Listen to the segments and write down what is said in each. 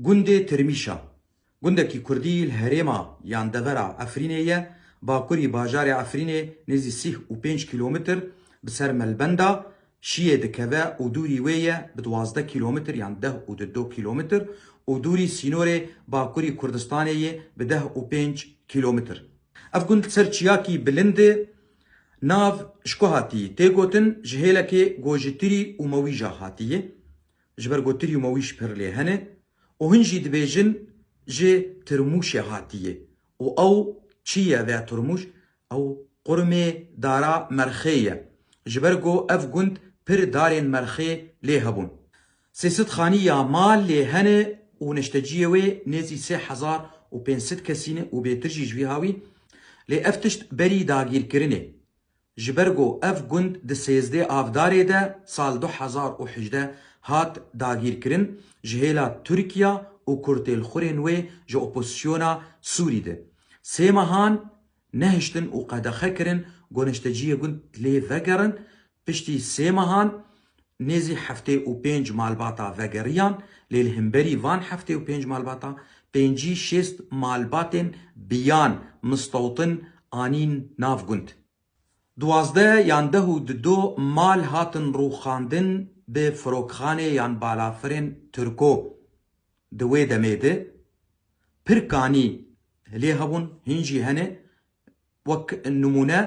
Gundê Tirmîşa, gundekî kurdî li herêma yan devera Efrînê ye, bakurî bajarê Efrînê nêzî sîh û pênc kîlometr bi ser melbenda Şiyê dikeve û dûrî wê ye bi duwazdeh kîlometr yan deh û du du kîlometr û dûrî sînorê bakurî Kurdistanê yê bi deh û pênc kîlometr. Ev gund li ser çiyakî bilind e, nav Şkohatî tê gotin, ji hêlekê Gojitirî û Mewîja hatiye. Ji ber ku tirî mawîş pir lê hene û hin jî dibêjin ji tirmûşê hatiye û ew çi ye vê tirmûş? Ew qurmê dara Merxê ye. Ji ber ku ev gund pir darên Merxê lê hebûn. Sê sed xanî ya mal lê hene û neşteciyê wê nêzî sê hezar û pênc sed kesî ne û bêtir jî ji vî ha wî. Lê ev tişt berî dagîrkirinê. Ji ber ku ev gund di sêzdeh avdarê de sal du hezar û hejdeh hat dagîrkirin ji hêla Tirkiya û kurtêlxurên wê ji opozîsyona Sûrî di sê mehan nehiştin û qedexe kirin ku nişteciyê gund lê vegerin piştî sê mehan Nêzî heftê û pênc malbata vegeriyan lê li himberî van heftê û pênc malbata pêncî şêst malbatên biyan mistewtin anîn nav gund. Duwazdeh yan deh û di do mal hatin rûxandin bi firokxanê yan balafirên Tirko. Di wê demê de pirkanî lê hebûn hîn jî hene Wek nimûne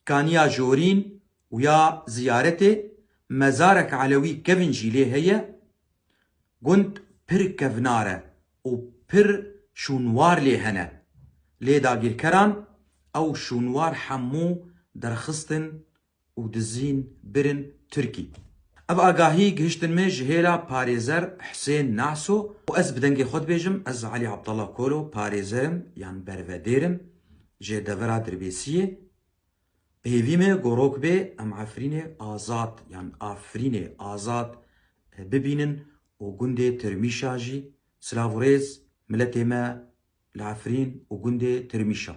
kaniya Jorîn û ya Ziyaretê, mezarek elewî kevn jî lê heye. Gund pir kevnar e û pir şûnwar lê hene. Lê dagîrkeran ew şûnwar hemû derxistin û dizîn birin Tirkî. Ev agahî gihiştin me ji hêla Parêzer Husên Naso û ez bi dengê xwe dibêjim ez Elî Abdallah Kolo parêzer im yan bervedêr im ji devera Dirbêsiyê. Bi hêvî me gorok bê em Efrînê azad yan Afrînê azad bibînin û gundê Tirmîşa jî silav û rêz miletê me li Efrîn û gundê Tirmîşa.